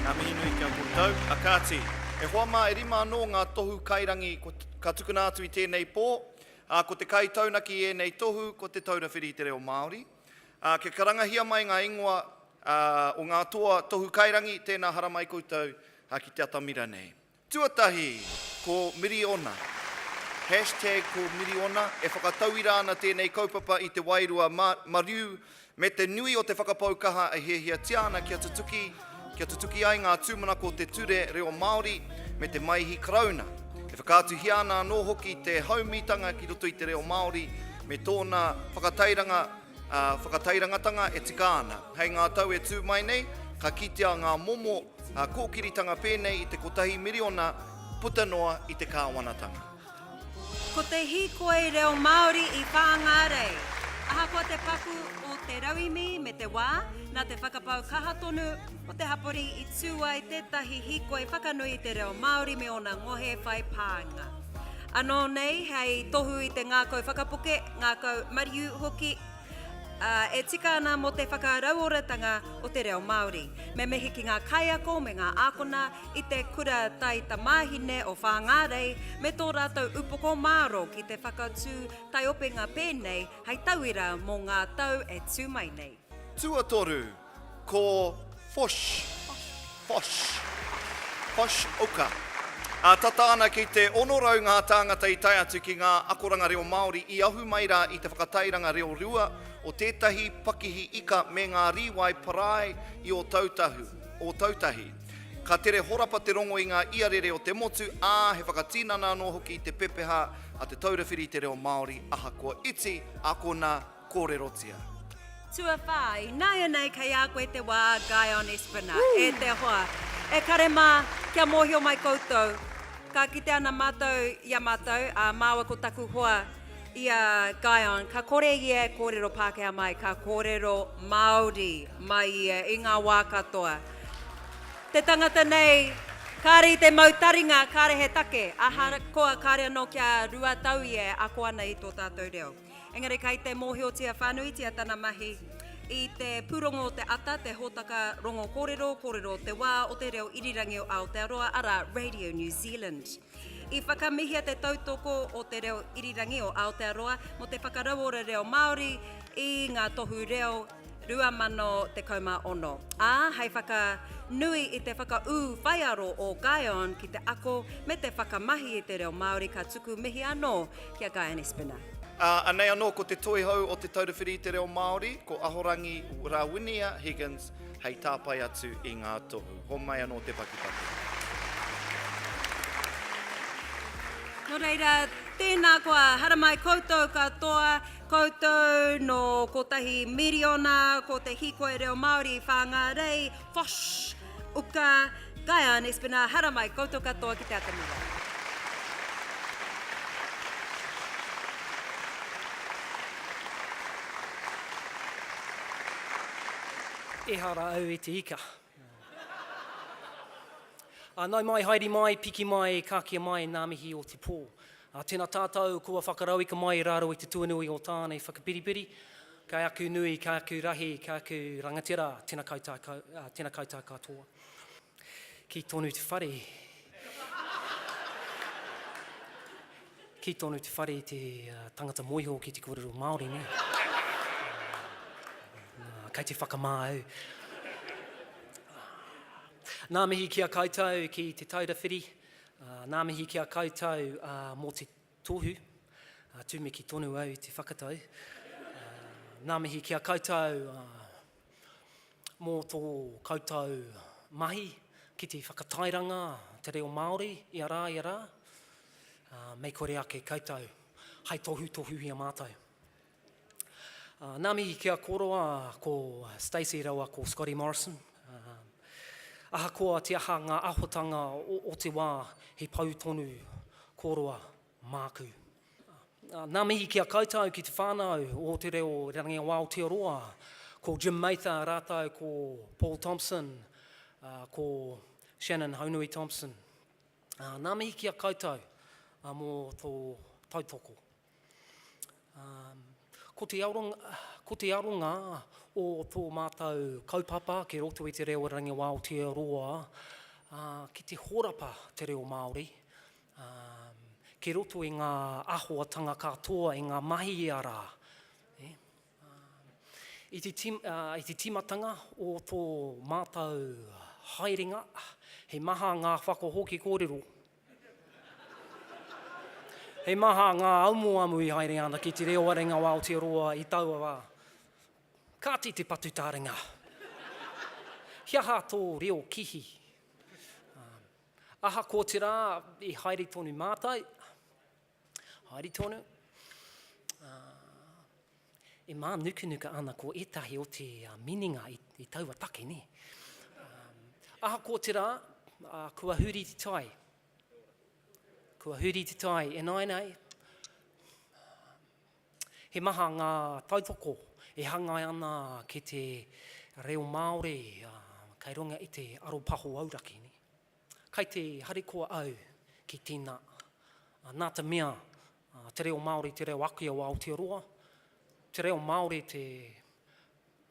Ngā mihi nui ki a koutou. A kāti, e hoa mā e rima anō ngā tohu kairangi ka tukuna atu i tēnei pō, ā, ko te kaitaunaki i ēnei tohu ko Te Taura Whiri i te Reo Māori. Ā, kia karangahia mai ngā ingoa o ngā toa tohu kairangi, tēnā haramai koutou ki te atamira nei. Tuatahi, ko Miriona. Hashtag ko Miriona, e whakatauira ana tēnei kaupapa i te wairua mariu me te nui o te whakapau kaha e hiahiatia ana kia tutuki, kia tutuki ai ngā tūmanako o te ture reo Māori me te Maihi Karauna. E whakaatuhia ana anō hoki te haumitanga ki roto i te reo Māori me tōna whakatairanga Ā, whakatairangatanga e tika ana. Hei ngā tau e tū mai nei, ka kitea ngā momo kōkiritanga pēnei i te kotahi miriona puta noa i te kāwanatanga. Ko te hīkoi reo Māori i Whāngārei. Ahakoa te paku o te rauemi me te wā, nā te whakapau kaha tonu o te hapori i tū ai tētahi hīkoi whakanui i te reo Māori me ōna ngohe whai pānga. Anō nei hei tohu i te ngākau whakapoke, ngākau mariu hoki, ā, e tika ana mō te whakarauoratanga o te reo Māori. Me mihi ki ngā kaiako me ngā ākona i te Kura Tai Tamāhine o Whāngārei me tō rātou upoko mārō ki te whakatū taiopenga pēnei hei tauira mō ngā tau e tū mai nei. Tuatoru, ko Fosh, Fosh, Fosh Uka. Ā, tata ana ki te 600 ngā tāngata i tae atu ki ngā akoranga reo Māori i ahu mai rā i te whakatairanga reo rua o tētahi pakihi ika me ngā rīwai parae i Ōtautahu, Ōtautahi. Ka tere horapa te rongo i ngā iarere o te motu, ā, he whakatinana anō hoki i te pepeha a Te Taura Whiri i te Reo Māori ahakoa iti, akona, Kōrerotia. Tuawhā, ināianei kei a koe te wā, Guy on Esplanade. Woo! E te hoa, e kare mā, kia mōhio mai koutou, ka kite ana mātou i a mātou, ā, māua ko taku hoa i a Guy on, ka kore ia e kōrero Pākehā mai, ka kōrero Māori mai ia i ngā wā katoa. Te tangata nei, kāre i te mau taringa, kāre he take, ahakoa kāre anō kia rua tau ia e ako ana i tō tātou reo. Engari kei te mōhiotia whānuitia tana mahi i te pūrongo o te ata, te hōtaka rongo kōrero, kōrero o te wā, o te reo irirangi o Aotearoa, arā, Radio New Zealand. I whakamihia te tautoko o te reo irirangi o Aotearoa mō te whakarauora reo Māori i ngā tohu reo 2016, ā, hei whakanui i te whakaū whaiaro o Guyon ki te ako me te whakamahi i te reo Māori ka tuku mihi anō ki a Guyon Espiner. Ā, anei anō ko te toihau o Te Taura Whiri i te Reo Māori, ko Ahorangi Rawinia Higgins hei tāpae atu i ngā tohu. Homai anō te pakipaki. Nō reira, tēnā koa, haramai koutou katoa. Koutou nō kotahi miriona ko te hīkoi reo Māori Whāngārei, Fosh, Uka, Guyon, Espinal, haramai koutou katoa ki te atamira. Ehara au i te ika. Ā, nau mai, haere mai, piki mai, kākia mai ngā mihi o te pō. Ā, tēnā tātou kua whakarauika mai rā rau i te tuanui o tānei whakapiripiri, kei aku nui, kei aku rahi, kei aku rangatira, tēnā koutou katoa. Kī tonu te whare, Kī tonu te whare i te tangata moiho ki te kōrero Māori nē. Kei te whakamā au. Nā mihi ki a koutou ki te Taura Whiri, nā mihi ki a koutou mō te Tohu, ā, tumeki tonu au i te whakatau. Ngā mihi ki a koutou mō tō koutou mahi ki te whakatairanga te reo Māori i a rā, i a rā. Mei kore ake koutou hai tohutohuhia mātou. Uh, nā mihi ki a Koroa, ko Stacey rawa ko Scotty Morrison. Uh, ahakoa te aha ngā ahotanga o, o te wā, he pau tonu Koroa māku. Uh, nā mihi ki a koutou ki te whānau o te reo Rangi o Aotearoa, ko Jim Mather rātou ko Paul Thompson, uh, ko Shannon Haunui Thompson. Uh, nā mihi ki a koutou uh, mō tō tautoko. Ko te aronga, ko te aronga o tō mātou kaupapa ki roto i te reo Rangi o Aotearoa, ki te horapa te reo Māori, ki roto i ngā ahoatanga katoa, i ngā mahi i a rā. I te, i te timatanga o tō mātou haerenga, he maha ngā whakahoki kōrero He maha ngā amuamu i haere ana ki Te Reo Warenga o Aotearoa i taua wā. Kāti te patu taringa. He aha tō reo kihi? Ahakoa te rā i haere tonu mātou, Haere tonu. Ā, e mānukanuka ana ko ētahi o te minenga i taua take, nē. Ā, ahakoa te rā, ā, kua huri te tai. Kua huri te tai e nāianei. He maha ngā tautoko e hangai ana ki te reo Māori, ā, kei runga i te aropaho auraki, nē. Kai te harikoa au ki tēnā. Nā te mea, te reo Māori te reo ake o Aotearoa, te reo Māori te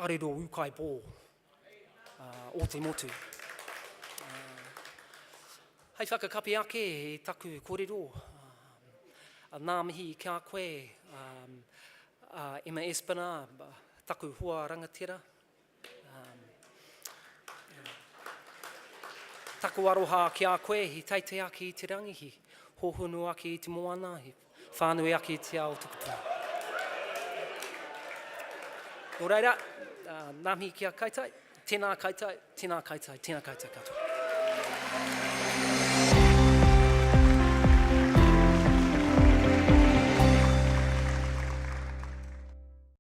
arero ūkaipō o te motu. Hei whakakapi ake i taku kōrero, nā mihi ki a koe, Emma Espiner, taku hoa rangatira. Taku aroha ki a koe, i teitei ake i te rangi, i hohonu ake i te moana, i whānui ake i te ao tukutuku. Nō reira, ngā mihi ki a koutou, tēnā koutou, tēnā koutou, tēnā koutou katoa.